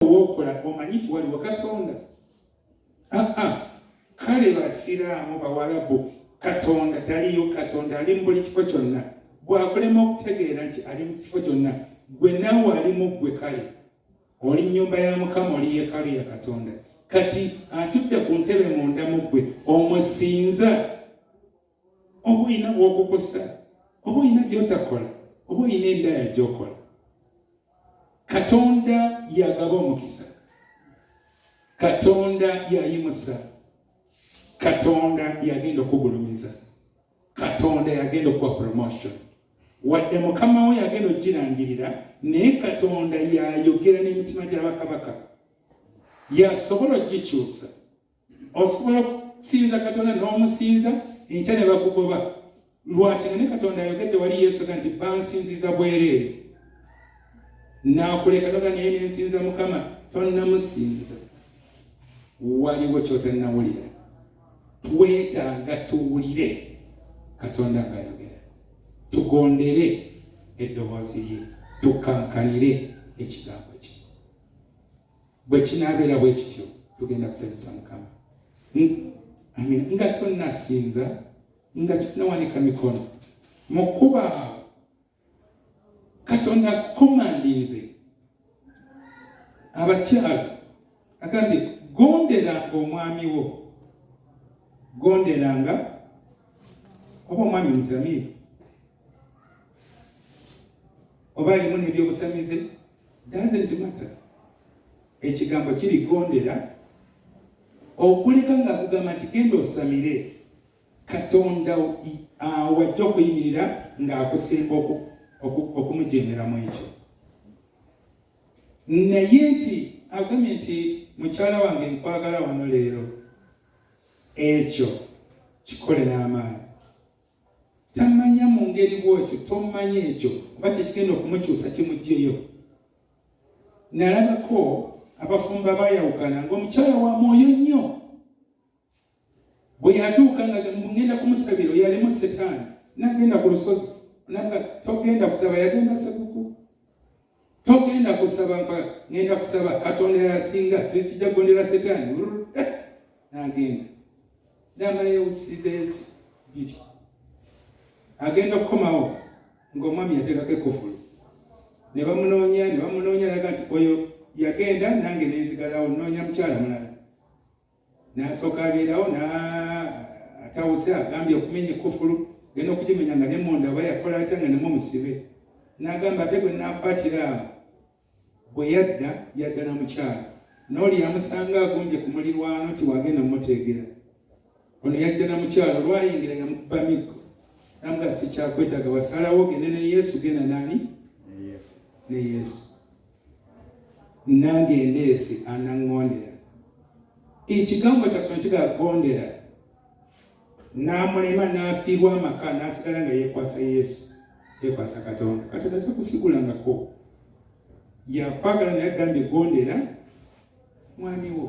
owokola omanyi nti waliwo katonda aa ah, ah. kale basiraamu bawalabu katonda taliyo katonda ali mu buli kifo kyonna bwakulema okutegeera nti ali mu kifo kyonna gwe nawe ali mu ggwe kale oli nyumba ya mukama oli yekalu ya katonda kati atudde ku ntebe munda mu ggwe omusinza oba olina wokukusa oba olina gyotakola oba olina endaya gyokola katonda yagaba omukisa katonda yayimusa katonda yagenda okugulumiza katonda yagenda okuwa promotion wadde mukama we yagenda okukirangirira naye katonda yayogera n'emitima gy'abakabaka yasobola okugikyusa Osobola okusinza Katonda n'omusinza enkya ne bakugoba. Lwaki? Naye Katonda ayogedde wali Yesu nti bansinziza bwereere. Naakuleka noga naye nensinza Mukama, tonnamusinza. Waliwo kyotannawulira. Twetaaga tuwulire Katonda ng'ayogera, tugondere eddoboozi lye, tukkankanire ekigambo. bwe kinaabeera bwe kityo tugenda kusanyusa mukama amin nga tonnasinza nga tunawanika mikono mu kuba katonda akukomandinze abakyala agambye gonderanga omwami wo gonderanga oba omwami mutamiire oba alimu nebyobusamize doesn't matter ekigambo kirigondera okuleka nga kugamba nti genda osamire katonda wajja okuyimirira ng'akusemba okumujemera mu ekyo naye nti agambye nti mukyala wange nkwagala wano leero ekyo kikole n'amaanyi tamanya mu ngeri bw'otyo tomanya ekyo kuba kyekigenda okumukyusa kimugyeyo nalabako abafumba bayawukana ngaomukyala wa mwoyo nnyo bwe yatuuka nga ngenda kumusabira yalimu setaani nagenda ku lusozi naga togenda kusaba yagenda sekuku togenda kusaba mpa ngenda kusaba katonda yasinga tekijja kugondera setaani eh, nagenda namalayo kisidesi biki agenda okukomawo ngaomwami yateekako ekufulu ne bamunoonya ne bamunoonya laga nti oyo yagenda nange nenzigalawo noonya mukyala mulala n'asooka abeerawo atawuse agambye okumenya ekkufulu genda okugimenya nga nemunda oba yakola atya nga nemu omusibe n'agamba ate gwe nakwatira awo bwe yadda yadda na mukyala n'oli yamusanga agumbye ku mulirwano nti wagenda mumuteegera ono yadda na mukyala olwayingira yamukuba miggo namuga sikyakwetaga wasalawo gende ne yesu genda nani ne yesu nange ndeesi anaŋŋondera ekigambo kyaffe nekigagondera n'amulema n'afiirwa amaka n'asigala nga yeekwasa yesu yeekwasa katonda katonda takusigulangako yakwagala naye agambye gondera mwami wo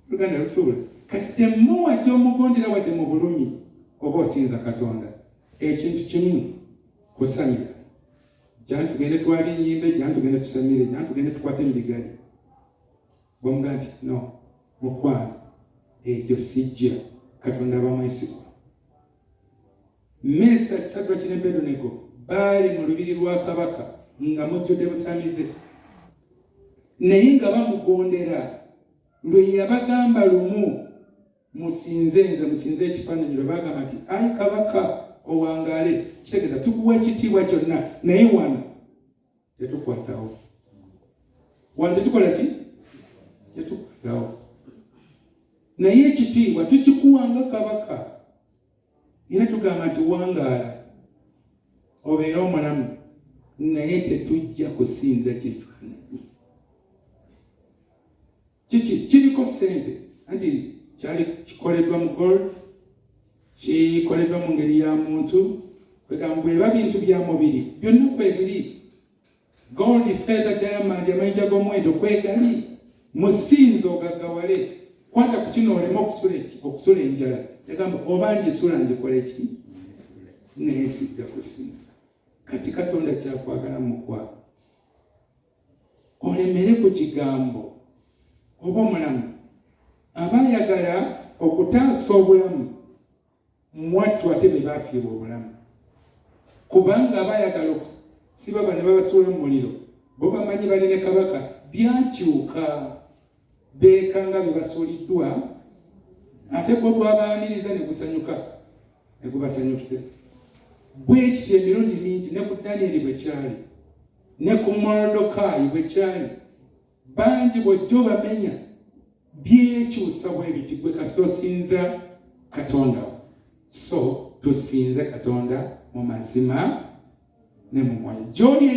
oluganda lutuula kati temuwa gyomugondera wadde mu bulumi oba osinza katonda ekintu kimu kusamira jani tugende twali enyimbe jani tugende tusemire jani tugende tukwate emibigari bamuga nti no mukwano ekyo sijja katonda abamwesigwa mesa kisadwa kinebedonego baali mu lubiri lwa kabaka nga mujjudde busamize naye nga bamugondera lwe yabagamba lumu musinze nze musinze ekifaananyi lwe bagamba nti ayi kabaka owangaale kitegeeza tukuwa ekitiibwa kyonna naye wano tetukwatawo wano tetukola ki tetukwatawo naye ekitiibwa tukikuwanga kabaka era tugamba nti wangaala obeere omulamu naye tetujja kusinza kifaananyi kiki kiriko ssente anti kyali kikoleddwa mu gold kikoleddwa mu ngeri ya muntu kwegamba bweba bintu bya mubiri byonna kwebiri gold feather diamond amayinja g'omuwendo kwegali musinza ogaggawale kwata ku kino oleme okusula enjala yagamba oba ngisula ngikola eki naye sijja kusinza kati katonda kyakwagala mukwaa olemere ku kigambo oba omulamu aba ayagala okutaasa obulamu mwattu ate be baafiirwa obulamu kubanga aba ayagala okusiba bano babasuula mu muliro bo bamanyi bali ne kabaka byakyuka beekanga bwe basuuliddwa ate gwo gwabaaniriza ne gusanyuka ne gubasanyukira bwekityo emirundi mingi ne ku danyeri bwe kyali ne ku morodokaayi bwe kyali bangi bwojja obamenya byekyusa bwebiti gwe kasita osinza katonda so tusinze katonda mu mazima ne mu mwoyo